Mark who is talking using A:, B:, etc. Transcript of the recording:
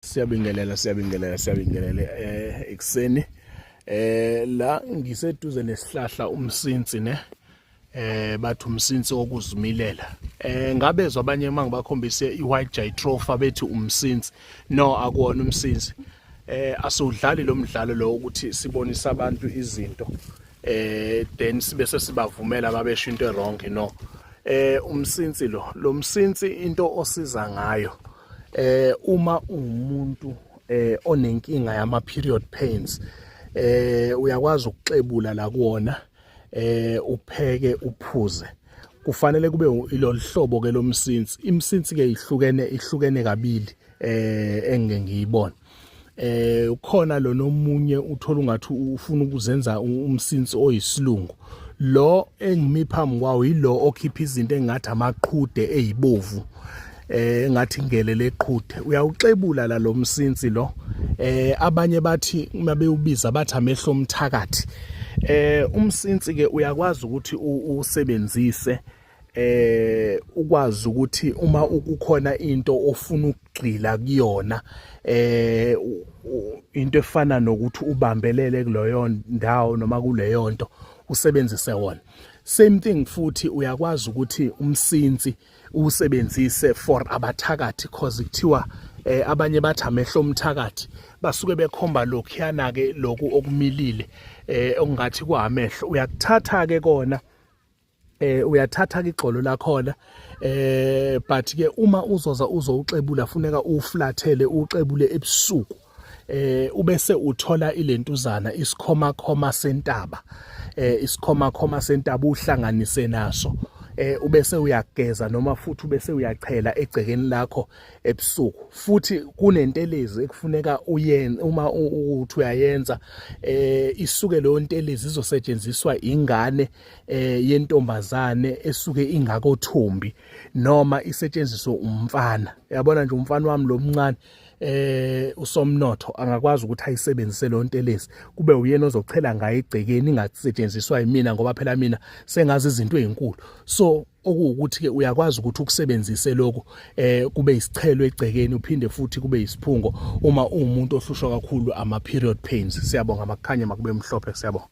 A: Siyabingelela siyabingelela siyabingelela eh ekseni eh la ngiseduze nesihlahla umsinsi ne eh bathi umsinsi okuzimilela eh ngabezwa abanye uma ngibakhombise i-white jitropha bethi umsinsi no akuwona umsinsi eh asiwudlali lo mdlalo lo ukuthi sibonisa abantu izinto eh then sibe sesibavumela babesho into wrong no eh umsinsi lo lo msinsi into osiza ngayo eh uma umuntu eh onenkinga yama period pains eh uyakwazi ukuxebula la kuona eh upheke uphuze kufanele kube iloluhlobo ke lomsinsi imsinsi ke ihlukene ihlukene kabili eh engeke ngiyibone eh ukhona lo nomunye uthola ungathi ufuna ukuzenza umsinsi oyisilungu lo engimi phambi kwawo yilo okhipha izinto engathi amaqhude ezibovu eh ngathi ngele leqhude uyawuxebula la lo msinsi lo eh abanye bathi uma bewubiza bathi amehlo omthakathi eh umsinsi ke uyakwazi ukuthi usebenzise eh ukwazi ukuthi uma ukukhona into ofuna ukugxila kuyona eh into efana nokuthi ubambelele kuleyo ndawo noma kuleyo nto usebenzise wona same thing futhi uyakwazi ukuthi umsinsi usebenzise for abathakathi cause kuthiwa eh, abanye bathi amehlo omthakathi basuke bekhomba lokhuyana ke lokhu okumilile eh okungathi kuhamehlo uyakuthatha ke kona eh uyathatha ke igxolo lakhona eh but ke uma uzoza uzowuxebula funeka uflathele uxebule ebusuku eh ubese uthola ilentuzana isikhoma khoma sentaba eh isikhoma khoma sentaba uhlanganise naso eh ubese uyageza noma futhi ubese uyachela egcekeni lakho ebusuku futhi kunentelezi ekufuneka uyenze uma uthi uyayenza eh isuke leyo ntelezi izosetshenziswa ingane eh yentombazane esuke ingako thumbi noma isetshenziswe umfana yabona nje umfana wami lomncane eh usomnotho angakwazi ukuthi ayisebenzise lo ntelezi kube uyena ozochela ngaye igcekeni ingasetshenziswa yimina ngoba phela mina sengazi izinto ezinkulu so okuwukuthi ke uyakwazi ukuthi ukusebenzise lokho eh kube isichelo egcekeni uphinde futhi kube isiphungo uma umuntu ohlushwa kakhulu ama period pains siyabonga makukhanye makube mhlophe siyabonga